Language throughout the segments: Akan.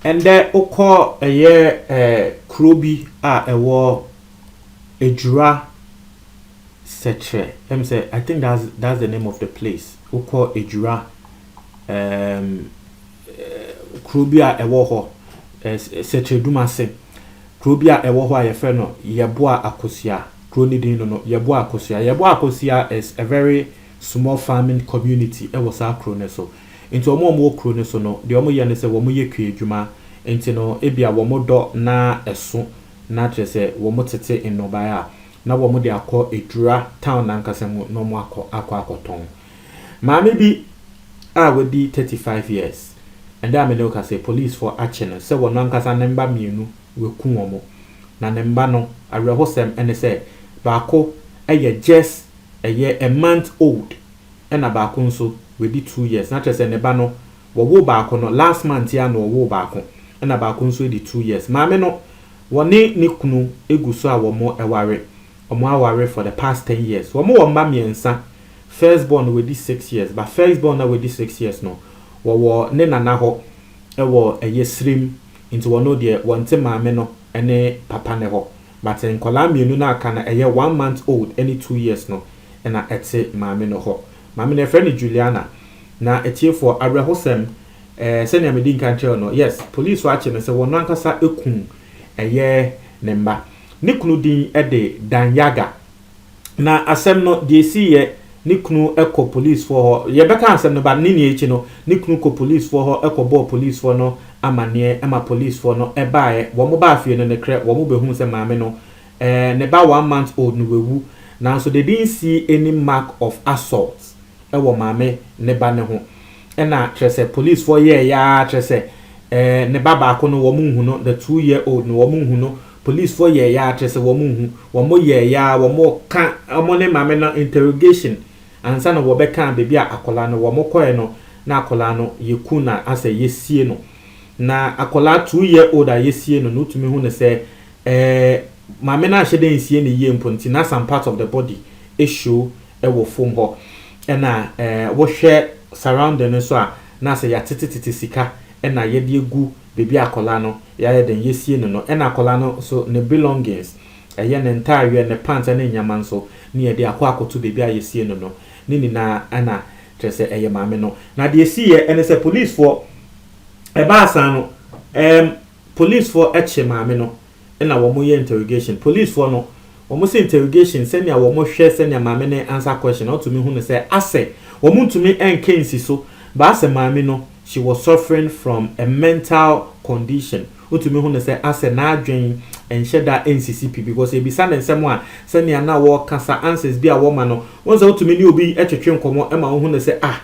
ɛndɛ wokɔ ɛyɛ ɛɛ kuro bi a ɛwɔ edwura sɛkyerɛ ɛm sɛ i think that's that's the name of the place wokɔ edwura ɛɛm. Um, kuro bi a ɛwɔ hɔ, Sɛkyerɛdum ase. Kuro bi a ɛwɔ hɔ a yɛfrɛ no Yɛboa Akosua. Kuro no din no no, Yɛboa Akosua. Yɛboa Akosua is a very small farming community wɔ saa kuro no so. Nti wɔn a wɔwɔ kuro no so no, deɛ wɔyɛ ne sɛ wɔyɛ kua adwuma. Nti no, ebia wɔdɔ na ɛso, na kyerɛ sɛ wɔtete nnɔbaeɛ a, na wɔde akɔ Adura town no ankasa mu na wɔakɔ akɔtɔn. Maame bi a wadi thirty five years ɛda a me ne wo kasa yi polisfoɔ akye no sɛ wɔn ankasa ne mma mmienu waku wɔn na ne mma no awerɛhosɛm ne sɛ baako yɛ just ɛyɛ a month old ɛna baako nso wadi two years na kyerɛ sɛ ne ba no wɔwoo baako no last month yi ara na wɔwoo baako ɛna baako nso adi two years maame no wɔne ne kunu gu so a wɔn ɛware Ɔmo aware for the past ten years ɔmo wɔ mma mmiɛnsa first born no wadi six years but first born no a wadi six years no wɔwɔ ne nana hɔ wɔ ɛyɛ sirem nti wɔno deɛ wɔnte maame no ne papa no hɔ but nkwadaa mmienu no a aka no ɛyɛ one month old ne two years no na ɛte maame no hɔ maame no yɛfrɛ no Juliana na atiefoɔ awerɛhosɛm ɛɛ sɛnea medi nkan kyerɛw no yes police akye no sɛ wɔn ankasa ekum ɛyɛ ne mma. Ne kunu din de Dan Yaga. Na asɛm no, deɛ ɛsiiɛ, ne kunu kɔ polisfoɔ hɔ. Yɛbɛka asɛm no, but ne nyinaa akyi no, ne kunu kɔ polisfoɔ hɔ kɔbɔɔ polisfoɔ no amanneɛ ma polisfoɔ no baeɛ. Wɔbaa fie no, nokorɛ, wɔbɛhuu sɛ maame no, ne ba one month old no wawu. Nanso the didn't see any mark of assault. wɔ maame ne ba no ho na kyerɛ sɛ police foɔ yɛɛyɛ ara kyerɛ sɛ eh, ne ba baako no wɔn nhu no the two year old no wɔn nhu no police foɔ yɛɛyɛ ara kyerɛ sɛ wɔn nhu wɔn yɛɛyɛ ara wɔn ka wɔn ne maame no interrogation ansa na wɔbɛka baabi a akwadaa no wɔn kɔɛ no na akwadaa no yɛku na asɛ yɛsie no na akwadaa two year old a yɛsie no no tumi hu no sɛ eh, maame no anhyɛ dɛ nsie ne yie mpo nti na some part of the body ɛshow wɔ fom hɔ ɛna wohwɛ surrounding no nso a na sɛ yɛatetetete sika ɛna yɛde agu baabi a akwadaa no yɛayɛ dɛn yɛasie no no ɛna akwadaa no nso ne belongings ɛyɛ ne ntaareɛ ne pants ɛne nneɛma nso ne yɛde akɔ akɔto baabi a yɛasie no no ne nyinaa ɛna kyerɛ sɛ ɛyɛ maame no na deɛ ɛsiiɛ ɛne sɛ policefoɔ ɛbaa saa no ɛɛm policefoɔ ɛkye maame no na wɔn yɛ interrogation police foɔ no wɔn sɛ interrogation sɛnea wɔn hwɛ sɛnea maame no answer question na ɔtumi hu no sɛ asɛ wɔn ntumi ɛnka nsi so ba asɛ maame no she was suffering from a mental condition ɔtumi hu no sɛ asɛ n'adwen ɛnhyɛ da ɛnsisi pi because ɛbisa no nsɛm a sɛnea na wɔkasa answers bi a wɔma no wɔn sɛ ɔtumi ne obi ɛtwetwe nkɔmɔ ɛma ɔhu no sɛ ah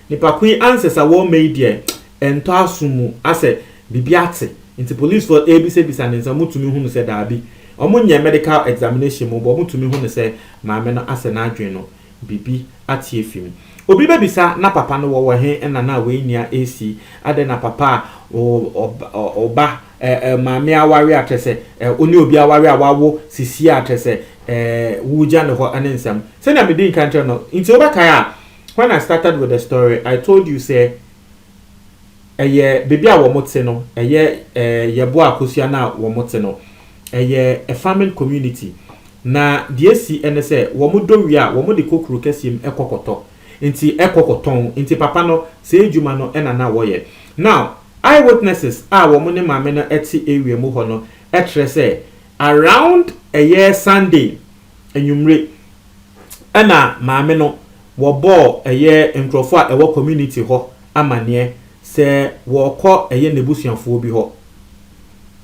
Nipa ko yi ansesa wɔ mɛ yi deɛ ɛntɔ aso mu asɛ bibi ate nti police fɔ ɛbisa bisa ne nsa ɔmo tumi hu no sɛ daabi ɔmo nyɛ medical examination mu bɔ ɔmo tumi hu no sɛ maame no asɛ n'adwen no bibi ate afi mu obi bɛ bisa na papa no wɔ wɔ he ɛna na wei nia ɛsi adɛ na papa a ɔba ɛɛ maame aware a kyɛ sɛ ɛɛ ɔne obi aware a wawo sisi a kyɛ sɛ ɛɛ wogya ne hɔ ɛne nsɛm sɛnea medi nka nkyerɛ no nti wobɛkae a When I started with the story, I told you sɛ ɛyɛ baabi a wɔn te no, ɛyɛ eh, Yɛboa Akosua no a wɔn te no, ɛyɛ a farming community. Na deɛ esi ɛne sɛ wɔn dɔ wie a, wɔn de kɔ kuro kɛseɛ mu ɛkɔ kɔtɔ. Nti ɛkɔ kɔtɔn. Nti papa no, saa adwuma no ɛna na wɔyɛ. Now, eye witnesses a wɔn ne maame no ɛte area mu hɔ no ɛkyerɛ sɛ around ɛyɛ Sunday anwummere ɛna maame no wɔbɔɔ ɛyɛ nkurɔfoɔ a ɛwɔ community hɔ amaneɛ sɛ wɔrekɔ ɛyɛ n'abusuafoɔ bi hɔ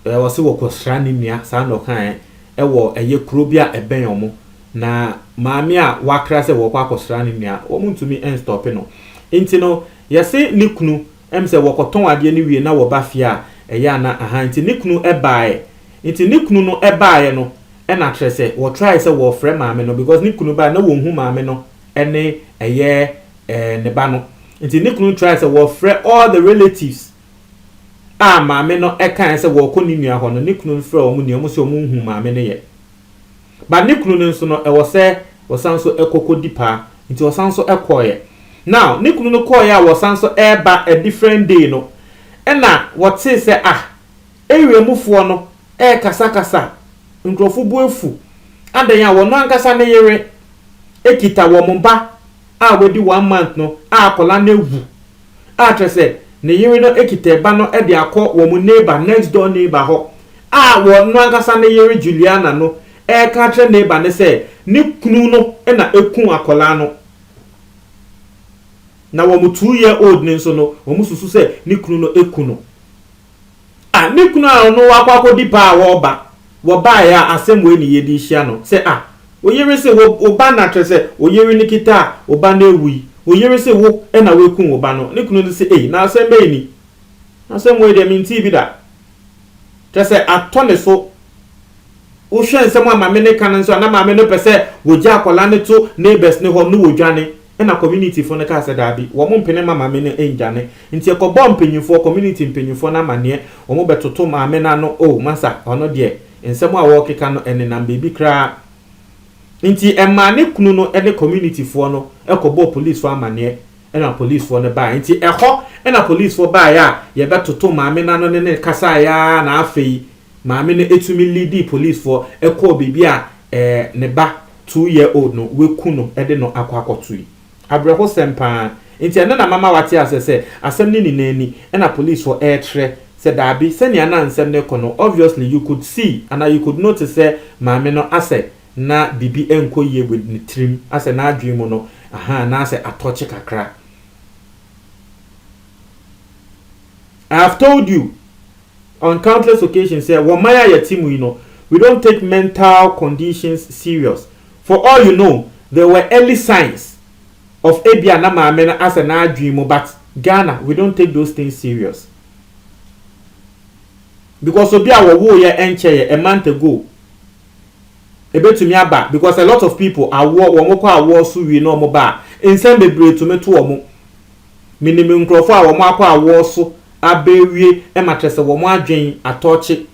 ɛɛ ɔse wɔkɔsra ne nua saa na ɔkaeɛ ɛwɔ ɛyɛ kuro bi a ɛbɛn wɔn na maame a wakra sɛ wɔrekɔ akɔsra ne nua wɔn ntumi nstɔpe no nti no yɛse ne kunu Ɛm sɛ wɔkɔtɔn adeɛ no wie na wɔba fie a, ɛyɛ a na ahaa nti ne kunu baeɛ. Nti ne kunu no baeɛ no na kyerɛ sɛ wɔtrae sɛ wɔrefrɛ maame no because ne kunu baeɛ na wɔnhu maame no ne ɛyɛ ne ba no. Nti ne kunu trae sɛ wɔrefrɛ all the relatives a maame no kaeɛ sɛ wɔrekɔ ne nua hɔ no, ne kunu no frɛɛ wɔn nyinaa, wɔn se wɔn nhu maame no yɛ. But ne kunu no nso no ɛwɔ sɛ ɔsan nso kɔ kɔ di paa. Nti ɔsan nso kɔeɛ. Now ne kunu no kɔeɛ a wɔsan nso reba a different day no ɛna wɔtee sɛ ah area mu foɔ no rekasa kasa nkurɔfo bo afu adɛn a wɔn ankasa ne yere kita wɔn ba a wadi one month no a akwadaa no awu a kyerɛ sɛ ne yere no kita ba no de akɔ wɔn neighbor, next door neighbor hɔ a wɔn no ankasa ne yere Juliana no reka akyerɛ neighbor no sɛ ne kunu no na ɛku akwadaa no. Na wɔn two year old no nso no, wɔn susu sɛ ne kunu no ɛku no. Ah, me kunu a ɔno wakɔ akɔdi pa a wɔreba, wɔbaeɛ a asɛm wei ne yɛde rehyia no, sɛ ah, wo yere se wo, wo ba na kyerɛ sɛ wo yere no kita a wo ba no awui, wo yere se wo na woakum wo ba no, ne kunu no se ei, na asɛm bɛn ni? Asɛm wei deɛ mentee bi da. Kyerɛ sɛ atɔ ne so. Wohwɛ nsɛm a maame no ka no nso a, na maame no pɛ sɛ wɔgya akwadaa no to neighbors no hɔ na wɔdwane. Ɛnna communityfo no kaa sɛ, Dabi, wɔmpene mma maame no nndwane. Nti ɛkɔbɔɔ mpanyimfoɔ, community mpanyimfoɔ no amaneɛ, wɔbɛtoto maame no ano, Oh, masa, ɔno deɛ, nsɛm a wɔrekeka no, ɛnenam baabi koraa. Nti ɛmaa ne kunu no ne communityfoɔ no kɔbɔɔ policefoɔ amaneɛ, ɛnna policefoɔ no baeɛ. Nti ɛhɔ na policefoɔ baeɛ a yɛbɛtoto maame no ano ne no kasaeɛ ara na afei maame no tumi leadii policefoɔ kɔɔ baabi a ne ba two year old no waku no de no akɔ akɔtoe. Abrɛhosɛm paa. Nti ɛno na mama wate aseɛ sɛ asɛm no nyinaa ni ɛna police foɔ ɛɛkyerɛ sɛ daabi sɛnea na nsɛm no rekɔ no obviously you could see anaa you could notice sɛ maame no asɛ na biribi nkɔ yie with ne tirim asɛ n'adwene mu no ahaa na asɛ atɔkye kakra. I have told you on countless occasions sɛ wɔ man a yɛte mu yi no we don't take mental conditions serious for all you know there were early signs of ebia na maame no asɛ n'adwene mu but Ghana we don't take those things serious because obi a wɔwoo yɛ ɛnkyɛ yɛ a month ago ebetumi aba because a lot of people awoɔ wɔn kɔ awoɔ so wie na wɔn ba a nsɛm bebree tumi to wɔn. Minim nkorɔfo a wɔakɔ awɔw so abewie ma kyerɛ sɛ wɔn adwen atɔɔkye.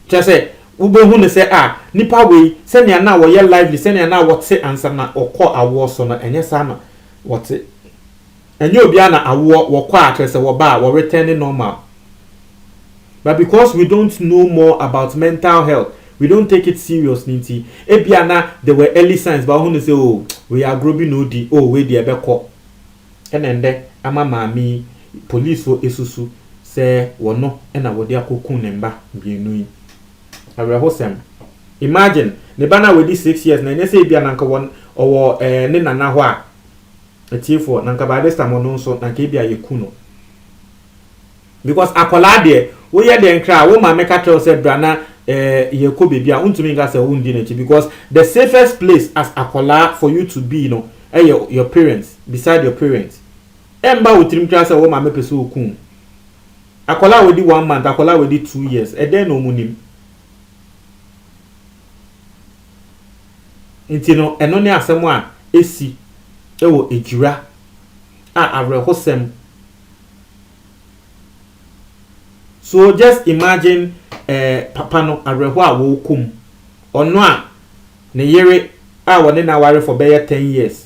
Kyerɛ sɛ, wubehu no sɛ ah, nipa wei, sɛnea na ɔyɛ lively, sɛnea na ɔte ansa na ɔkɔ awɔw so no, ɛnyɛ saa na ɔte. Ɛnyɛ obiara na awɔw, wɔkɔ a, kyerɛ sɛ wɔba a, wɔretɛne normal. But because we don't know more about mental health, we don't take it serious no nti, ebia na there were early signs but wohu no sɛ oh, wei agorɔ bi na odi, oh, wei deɛ ɛbɛkɔ. Ɛna ndɛ ama maame yi polisfoɔ esusu sɛ wɔno na wɔde akɔ ku ne mba mienu yi. Awerɛhosɛm. Imagine, ne ba no a wadi six years no ɛnyɛ sɛ ebia na nka wɔ ɔwɔ ɛɛ ne nana hɔ a, atiefoɔ, na nka by this time ɔno nso na nka ebia yɛku no. Because akwadaa deɛ woyɛ dɛn koraa wo maame ka kyerɛ wo sɛ bra na eh, yɛkɔ baabi a wontumi nka sɛ wondi n'akyi because the safest place as akwadaa for you to be no ɛyɛ your parents beside your parents ɛmba wo tirim koraa sɛ wo maame pɛ sɛ okum akwadaa a wadi one month akwadaa a wadi two years ɛdɛn na wɔn nim nti no ɛno ne asɛm a esi ɛwɔ ejira a awerɛhosɛm. So just imagine eh, papa no awerɛhoɔ a wɔrekɔ mu, ɔno a ne yere a wɔne no aware for bɛyɛ ten years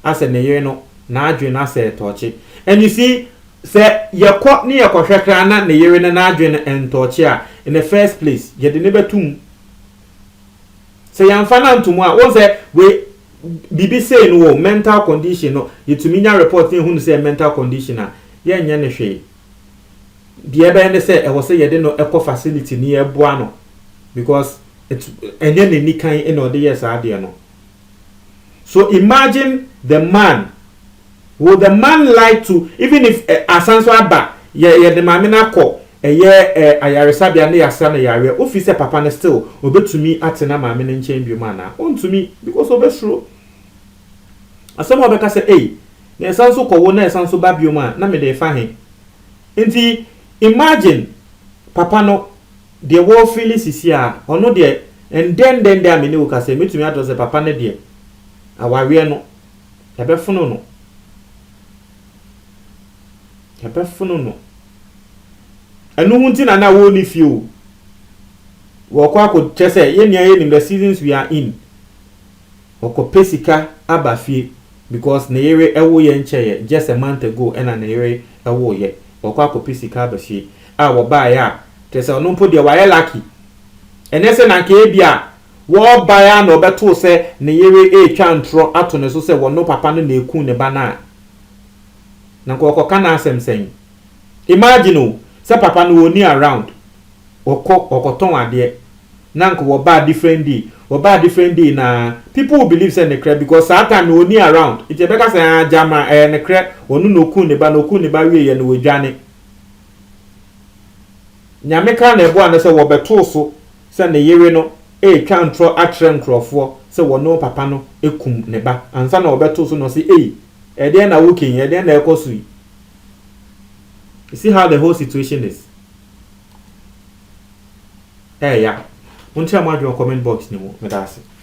asɛ ne yere no n'adwene asɛ tɔɔkye and you see sɛ yɛkɔ ne yɛkɔhwɛ koraa na ne yere no n'adwene no ntɔɔkye a in the first place yɛde ne bɛtum sɛ yɛmfa no antom a wɔn sɛ wei Biribi sei no o, mental condition no, yɛtumi nya report na yɛhunu sɛ ɛyɛ mental condition a, yɛnyɛ no hwee. Deɛ ɛbɛyɛ ne sɛ ɛwɔ sɛ yɛde no kɔ facility na yɛboa no because ɛnyɛ n'anikan na ɔde yɛɛ saa adeɛ no. So imagine the man Will the man like to even if ɛ asan nso aba yɛ yɛde maame no akɔ ɛyɛ ɛ ayaresabea na yɛasra no yareɛ wo fi sɛ papa no still ɔbɛtumi atena maame no nkyɛn biom anaa ɔntumi because ɔbɛsuro asɛm a ɔbɛka sɛ ei na yɛsan nso kɔwo na yɛsan nso ba biom a na mede refa he nti imagine papa no deɛ wɔfili sisi a ɔno deɛ ɛndɛndɛndɛ a me ne wo kasa yi mɛtumi atorɔ sɛ papa no deɛ awareɛ no Yɛbɛfono no. Yɛbɛfono no. Ɛno ho nti na na wɔnni fie o. Wɔkɔ akɔkyɛ sɛ yɛn nua yɛ nim the seasons we are in. Wɔkɔpɛ sika aba fie because ne yere ɛwo yɛ nkyɛeɛ just a month ago ɛna ne yere ɛwo yɛ. Wɔkɔ akɔpɛ sika aba fie a wɔbaeɛ a kyerɛ sɛ ɔno mpo deɛ wayɛ lucky. Ɛnɛ sɛ na nka ebi a. Wɔbae ara na wɔbɛtoo sɛ ne yere retwa ntorɔ ato ne so sɛ wɔno papa no na ɛkuu ne ba no a, na nka ɔkɔka n'asɛm sɛn? Imagine o, sɛ papa no ɔnni around, ɔkɔ, ɔkɔtɔn adeɛ, na nka wɔba a different day, wɔba a different day no ara, people will believe sɛ nekorɛ because saa time no ɔnni around, nti ɛbɛka sɛ haa gyama, ɛyɛ nekorɛ, ɔno na ɔkuu ne ba no, ɔkuu ne ba wieeɛ no ɔdwane. Nyame kaa na ɛboa no sɛ wɔbɛtoo so sɛ ne yere no retwa ntorɔ akyerɛ nkurɔfoɔ sɛ wɔne wɔn papa no kum ne ba, ansa na wɔbɛto so no ɔse ei, ɛdeɛn na woka yi, ɛdeɛn na ɛrekɔ so yi? You see how the whole situation is? Ɛyɛ ya. Monkyerɛ mo adwene wɔ comment box no mu. Meda ase.